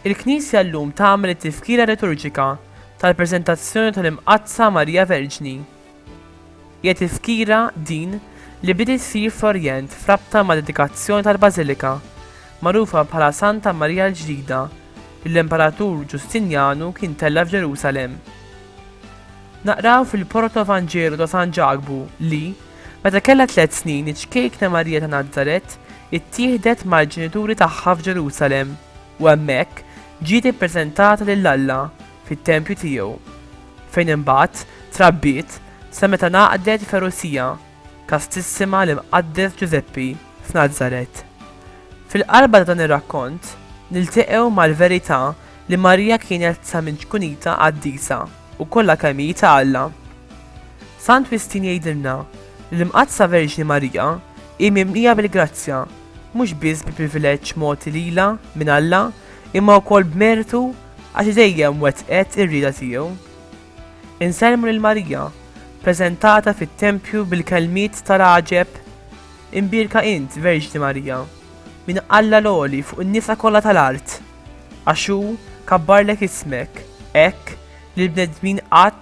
Il-Knisja llum tagħmel it-tifkira liturġika tal-preżentazzjoni tal-Imqaddsa Marija Verġni Hija tifkira din li bdiet issir fl-Orjent f'rabta mad-dedikazzjoni tal-bażilika, magħrufa bħala Santa Marija l-Ġdida, li l-Imperatur Ġustinjanu kien tella' f'Ġerusalemm. Naqraw fil-Protoevanġelu ta' San Ġakbu li, meta kellha tliet snin, iċ-ċkejkna Marija ta' Nazaret ittieħdet mal-ġenituri tagħha f'Ġerusalemm u hemmhekk ġiet ippreżentata lil Alla fit-tempju tiegħu, fejn imbagħad trabbiet sa meta ngħaqdet il-ferusija kastissima l-Imqaddes Ġużeppi f'Nazaret. Fil-qalba ta' dan ir-rakkont nilteqgħu mal-verità li Marija kienet sa minn ċkunitha qaddisa u kollha kemm hi ta' Alla. Sant Wistin jgħidilna li l-Imqaddsa Verġni Marija hi mimlija bil-grazzja, mhux biss bi privileġġ mogħti lilha minn Alla, imma wkoll b'mertu Għax dejjem wettqet ir-rieda tiegħu. Insellmu lil Marija, preżentata fit-tempju bil-kelmiet ta' l-għaġeb, Imbierka int, Verġni Marija, minn Alla l-għoli fuq in-nisa kollha ta' l-art, għax hu kabbarlek ismek, hekk li l-bnedmin qatt